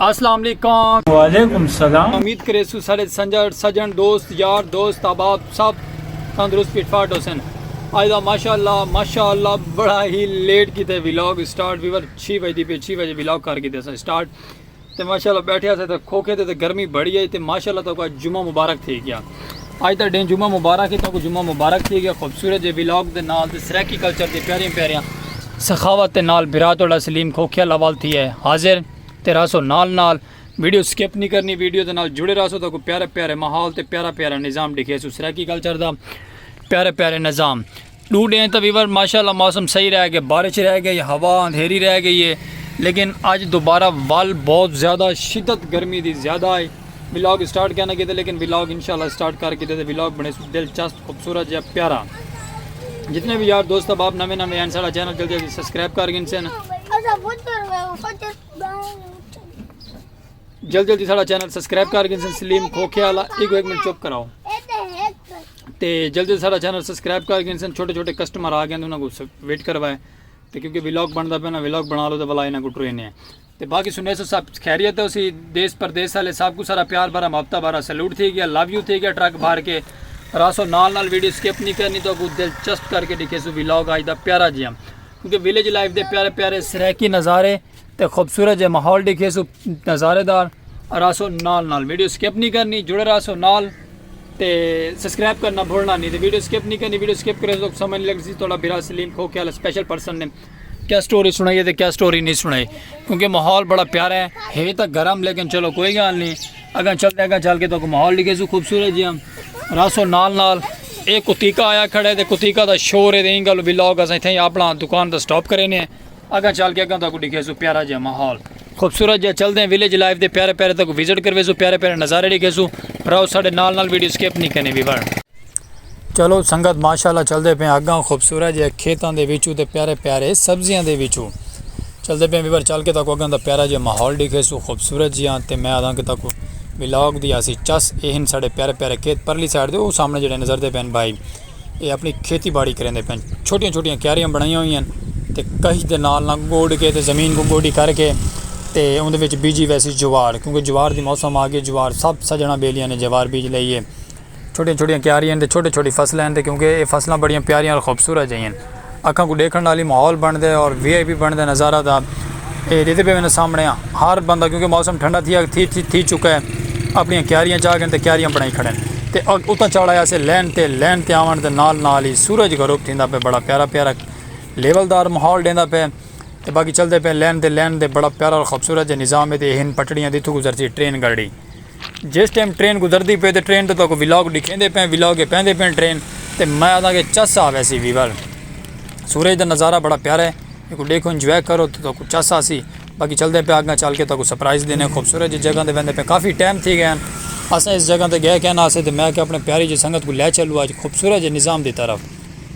اسلام علیکم وعلیکم السلام امید کرے سو سارے سنجر سجن دوست یار دوست احباب سب تندرست فٹ فاٹ حسین آج دا ماشاءاللہ ماشاءاللہ بڑا ہی لیٹ کیتے ویلاگ سٹارٹ ویور 6 بجے دی پہ 6 بجے ویلاگ کر کیتے سا سٹارٹ تے ماشاءاللہ بیٹھے اسے تے کھوکھے تے گرمی بڑی ہے تے ماشاءاللہ تو کا جمعہ مبارک تھی گیا اج دا ڈینھ جمعہ مبارک ہے تہاکوں جمعہ مبارک تھی گیا خوبصورت جے ولاگ دے نال تے سرائیکی کلچر دی پیاریاں پیاریاں سخاوت دے نال بھرا تہاڈا سلیم کھوکھیا لاوال تھی ہے حاضر تے رہسو نال نال ویڈیو سکپ نہیں کرنی ویڈیو دے نال جڑے رہسو تہاکوں پیارے پیارے ماحول تے پیارا پیارا نظام ڈکھیسوں سرائیکی کلچر دا پیارے پیارے نظام ݙو ݙینھ تاں ویور ماشاءاللہ موسم صحیح رہ گئے بارش رہ گئی ہوا اندھیری رہ گئی ہے لیکن اج دوبارہ ول بہت زیادہ شدت گرمی دی زیادہ ہے ولاگ اسٹارٹ کینا کیتے لیکن ولاگ انشاءاللہ اسٹارٹ کر کیتے تے ولاگ بنے سو دلچسپ خوبصورت جیا پیارا جتنے بھی یار دوست احباب نویں نویں ہیں سارا چینل جلدی جلدی سبسکرائب کر گئے سن جلدی جلدی سارا چینل سبسکرائب کر گئے سن سلیم کھوکھے والا ایک ایک منٹ چپ کراؤ تے جلدی سارا چینل سبسکرائب کر گئے سن چھوٹے چھوٹے کسٹمر آ گئے انہاں کو ویٹ کروائے تے کیونکہ ولاگ بندا پیا نا ولاگ بنا لو تے بلا انہاں کو ٹرینے ہیں تے باقی سنے سو سب خیریت ہے اسی دیس پردیس والے سب کو سارا پیار بھرا محبتہ بھرا سلوٹ تھی گیا لو یو تھی گیا ٹرک بھر کے راسو نال نال ویڈیو سکپ نہیں کرنی تو کو دلچسپ کر کے دکھے سو ولاگ آج دا پیارا جیاں کیونکہ ویلیج لائف دے پیارے پیارے سریکی نظارے تے خوبصورت جے ماحول ڈیکھے سو نظارے دار راسو نال نال ویڈیو سکپ نہیں کرنی جڑے راسو نال تے سبسکرائب کرنا بھولنا نہیں تے ویڈیو سکپ نہیں کرنی ویڈیو سکپ کرے تو سمجھ لگ سی تھوڑا بھرا سلیم کھو کیا سپیشل پرسن نے کیا سٹوری سنائی ہے تے کیا سٹوری نہیں سنائی کیونکہ ماحول بڑا پیارا ہے ہے تو گرم لیکن چلو کوئی گال نہیں اگاں چلتے اگاں چل کے تو ماحول لکھے سو خوبصورت جی ہم راسو نال نال ایک کتیکا آیا کھڑے تے کتیکا دا شور ہے دیں گل بلاگ اساں تھے اپنا دکان دا سٹاپ کرے نے اگاں چل کے اگاں تاکو ڈکھے سو پیارا جہاں ماحول خوبصورت جہاں چل دیں ویلیج لائف دے پیارے پیارے تاکو وزٹ کروے سو پیارے پیارے نظارے ڈکھے سو راؤ ساڑے نال نال ویڈیو سکیپ نہیں کرنی بھی ورن۔ چلو سنگت ماشاءاللہ چل دے پیں اگاں خوبصورت جہاں کھیتاں دے وچوں تے پیارے پیارے سبزیاں دے وچوں چل دے پیں بھی ورن چل کے تاکو اگاں دا پیارا جہاں ماحول ڈکھے سو خوبصورت جہاں تے میں آدھاں کے تاکو ولاگ دی آسی چس اہن ساڑے پیارے پیارے کھیت پرلی سائڈ دے وہ سامنے جڑے نظر دے پیں بھائی اے اپݨی کھیتی باڑی کریندے پئن۔ چھوٹیاں چھوٹیاں کیاریاں بݨائیاں ہوئیاں ہن تے کہج دے نال نال گوݙ کے تے زمین کوں گوݙی کر کے تے اوندے وچ بیجی ویسی جوار کیونکہ جوار دی موسم آ گئی جوار سب سڄݨاں ٻیلیاں نے جوار بیج لئی اے۔ چھوٹیاں چھوٹیاں کیاریاں ہن تے چھوٹی چھوٹی فصلاں ہن تے کیونکہ اے فصلاں بڑیاں پیاریاں تے خوبصورت جئیں ہن۔ اکھاں کوں ڈیکھن والی ماحول بن دے اور وی آئی پی بن دے نظارہ دا اے ڈیدے پے ویندے سامنے آں ہر بندہ کیونکہ موسم ٹھنڈا تھی تھی تھی تھی چکا ہے اپنی کیاریاں چاہ گئے تے کیاریاں بنائی کھڑے تے اتنا چڑھ آیا سے لین تے لین تے آون تے نال نال ہی سورج غروب تھیندا پے بڑا پیارا پیارا لیول دار ماحول ڈیندا پے تے باقی چلدے پے لین تے لین تے بڑا پیارا اور خوبصورت جے نظام ہے تے ہن پٹڑیاں دی تھو گزرتی ٹرین گڑی جس ٹائم ٹرین گزردی پئی تے ٹرین دا تہاکوں ولاگ ڈکھیندے پیاں ولاگ اے پیندے پیاں ٹرین تے میں آکھداں کہ چس آ ویسی ویور سورج دا نظارہ بڑا پیارا ہے ایکوں ڈیکھو انجوائے کرو تے تہاکوں چس آسی باقی چلدے پیاں اگاں چل کے تہاکوں سرپرائز دینے خوبصورت جی جگہ تے ویندے پیاں کافی ٹائم تھی گئے ہن اساں اس جگہ تے گئے کائنہ اسے تے میں آکھیا اپنے پیاری جی سنگت کوں لے چلو اج خوبصورت جے نظام دی طرف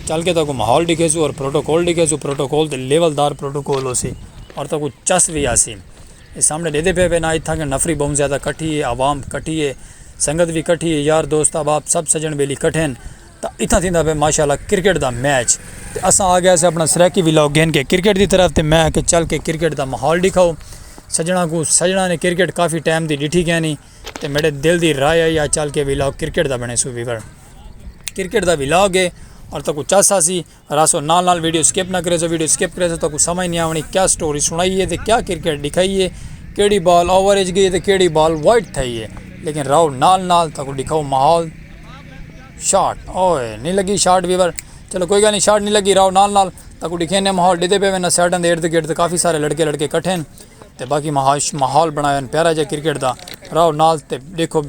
چل کے تہاکوں ماحول ڈکھیسوں اور پروٹوکول ڈکھیسوں پروٹوکول تے لیول دار پروٹوکول ہوسی اور تہاکوں چس وی آسی۔ اے سامنڑے ڈیدے پئے وے نا اتھاں گن نفری بہوں زیادہ کٹھی اے عوام کٹھی اے سنگت وی کٹھی اے یار دوست احباب سب سجن بیلی کٹھے ہن تاں اتھاں تھیندا پئے ماشاءاللہ کرکٹ دا میچ تے اساں آگئے سے اپنا سرائیکی وی لاگ گھن کے کرکٹ دی طرف تے میں آکھیا چل کے کرکٹ دا ماحول ڈکھاؤ سجنڑاں کوں سجنڑاں نے کرکٹ کافی ٹائم دی ڈٹھی کینی تے میڈے دل دی رائے آئی آ چل کے وی لاگ کرکٹ دا بنڑے سو وی کرکٹ دا وی لاگ اے اور تہاکوں چس آسی۔ رہسو نال نال ویڈیو سکپ نہ کریسو ویڈیو سکپ کریسو تو اکوں سمجھ نہیں آونی کیا سٹوری سنائی ہے تے کیا کرکٹ ڈکھائی ہے کیڑی بال اوور اچ گئی ہے تے کیڑی بال وائٹ تھئی ہے لیکن رہو نال نال تاکوں ڈکھاؤ ماحول شاٹ اوئے نہیں لگی شاٹ ویور چلو کوئی گل نہیں شاٹ نہیں لگی رہو نال نال تاکوں ڈکھینے ماحول ڈیتے پے وینا سیڈن دے ارد گرد کافی سارے لڑکے لڑکے کٹھے ہیں تے باقی مہاش ماحول بنایا ہن پیارا جا کرکٹ دا راؤ نال تے ڈیکھو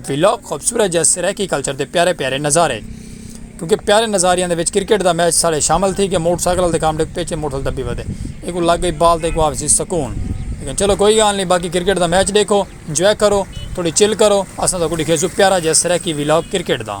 ولاگ خوبصورت جا سرائیکی کلچر دے پیارے پیارے نظارے کیونکہ پیارے نظاریاں دے وچ کرکٹ دا میچ سارے شامل تھی کہ موٹر سائیکل دے کام ڈے پیچھے موٹر سائیکل دبی ودے ایک کو لگ گئی بال تے ایک کو آفسی سکون لیکن چلو کوئی گال نہیں باقی کرکٹ دا میچ ڈیکھو انجوائے کرو تھوڑی چل کرو اساں تو کو ڈیکھے سو پیارا جا سرائیکی ولاگ کرکٹ دا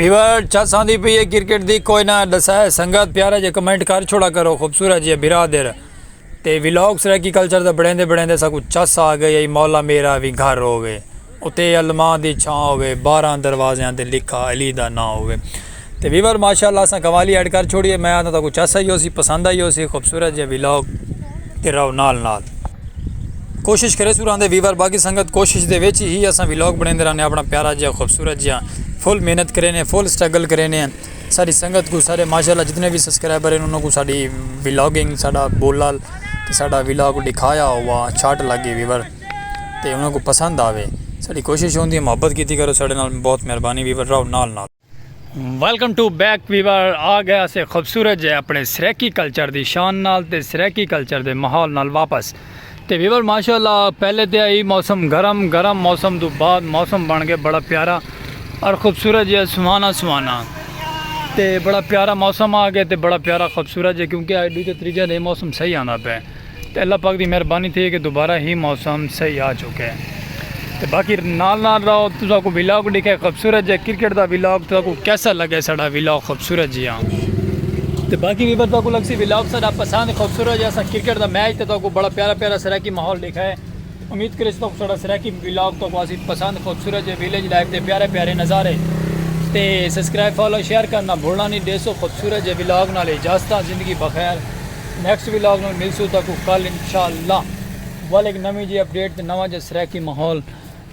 ویور چس آندی پی ہے کرکٹ دی کوئی نہ دسا ہے سنگت پیارا جے کمنٹ کر چھوڑا کرو خوبصورت جی برا دیر تے ویلوگ سرکی کلچر دا بڑھیں دے بڑھیں دے سا کچھ چس آ گئے مولا میرا بھی گھر ہو گئے اتے علماء دی چھاں ہووے بارہاں دروازیاں تے لکھا علی دا ناں ہووے تے ویور ماشاء اللہ اساں قوالی ایڈ کر چھوڑی ہے میں آنداں تہاکوں چس آئی ہوسی پسند آئی ہوسی خوبصورت جیہاں ولاگ تے رہو نال نال کوشش کریسوں راندے ویور باقی سنگت کوشش دے وچ ہی اساں ولاگ بنیندے رانے اپنا پیارا جیہاں خوبصورت جیہاں فل محنت کرینے فل سٹرگل کرینے ساری سنگت کو سارے ماشاء اللہ جتنے بھی سبسکرائبر ہیں انہوں کو ساری ولاگنگ ساڈا بولال تے ساڈا ولاگ ڈکھایا ہوا چھاٹ لگی ویور تے انہاں کوں پسند آوے ساڈی کوشش ہوندی ہے محبت کیتی کرو ساڈے نال بہت مہربانی ویور رہو نال نال۔ ویلکم ٹو بیک ویور آ گئے اسے خوبصورت جے اپنے سرائیکی کلچر دی شان نال تے سرائیکی کلچر دے ماحول نال واپس تے ویور ماشاءاللہ پہلے تے ہئی موسم گرم گرم موسم توں بعد موسم بن گئے بڑا پیارا اور خوبصورت جے سہانا سہانا تے بڑا پیارا موسم آ گئے تے بڑا پیارا خوبصورت جے کیونکہ اج ڈو تے تریجہ دے موسم صحیح آندا پئے۔ تے اللہ پاک دی مہربانی تھئی کہ دوبارہ ہی موسم صحیح آ چکے تے باقی نال نال راؤ تساں کو ویلاگ ڈیکھے خوبصورت جے کرکٹ دا ویلاگ تساں کو کیسا لگے ساڈا ویلاگ خوبصورت جی ہاں تے باقی بھی تساں کو لگسی ویلاگ ساڈا پسند خوبصورت جے اساں کرکٹ دا میچ تے تساں کو بڑا پیارا پیارا سرائیکی ماحول ڈیکھا ہے امید کریس تو ساڑا سرائیکی ولاگ تو کوسی پسند خوبصورت جے ویلیج لائف دے پیارے پیارے نظارے تے سبسکرائب فالو شیئر کرنا بھولنا نہیں دیسو خوبصورت جے ولاگ نال اجازت زندگی بخیر نیکسٹ ولاگ نال ملسو تاکو کل انشاءاللہ ولیک نویں جے اپڈیٹ تے نواں جے سرائیکی ماحول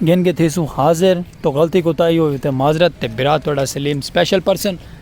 گھن کے تھیسو حاضر تو غلطی کوتاہی ہوئی تے معذرت تے برا تہاڑا سلیم سپیشل پرسن